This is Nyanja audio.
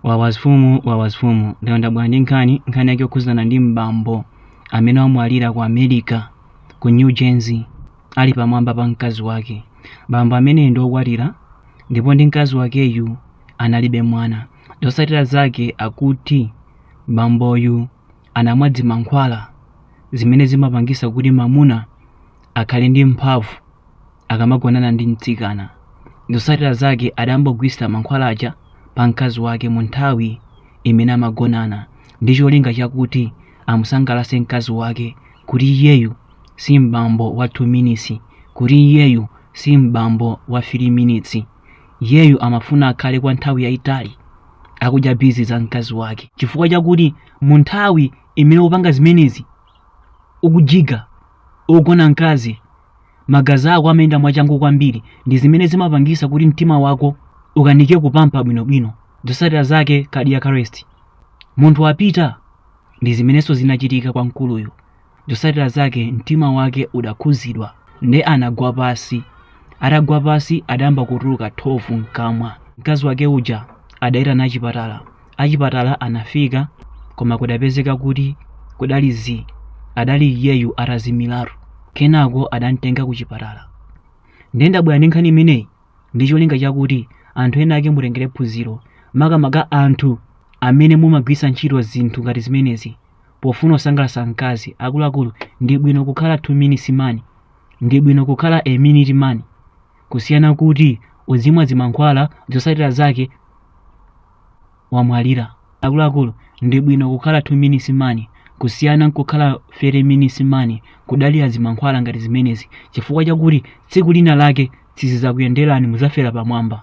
wawa zifumu wawa zifumu ndiye ndabwera ndi nkhani nkhani yake yokhuzana ndi m'bambo amene wamwalira ku america ku new jersey ali pamwamba pa mkazi wake bambo ameneyi ndi okwatira ndipo ndi mkazi wakeyu analibe mwana zotsatira zake akuti bamboyu anamwa dzimankhwala zimene zimapangisa kuti mamuna akhale ndi mphamvu akamagonana ndi mtsikana. Zotsatira zake adayambogwiritsa mankhwala aja pa mkazi wake mu nthawi imene amagonana ndi cholinga chakuti amusangalatse mkazi wake kuti iyeyu si m'bambo wa 2 minutes, kuti iyeyu si m'bambo wa 3 minutes. Iyeyu amafuna akhale kwa nthawi yayitali akudya bizi za mkazi wake chifukwa chakuti mu nthawi imene ukupanga zimenezi ukujiga ukugona mkazi magazi ako amayenda mwachangu kwambiri ndi zimene zimapangisa kuti mtima wako ukanike kupampa bwinobwino zosatira zake cardiac arrest munthu wapita ndi zimenenso zinachitika kwa mkuluyu zosatira zake mtima wake udakhuzidwa nde anagwa pasi atagwa pasi adayamba kutuluka thovu mkamwa mkazi wake uja adayitana achipatala achipatala anafika koma kudapezeka kuti kudali zii adali iyeyu atazimilatu kenako adamtenga kuchipatala ndiye ndabwera ndi nkhani imeneyi ndi cholinga chakuti anthu ena ake mutengere phunziro makamaka anthu amene mumagwiritsa ntchito zinthu ngati zimenezi pofuna kusangalatsa mkazi akuluakulu ndi bwino kukhala 2 minutes man ndi bwino kukhala a minute man kusiyana kuti uzimwa zimankhwala zotsatira zake wamwalira akuluakulu ndi bwino kukhala 2 minutes man kusiyana nkukhala 30 minutes man kudalira zimankhwala ngati zimenezi chifukwa chakuti tsiku lina lake sizizakuyenderani muzafera pamwamba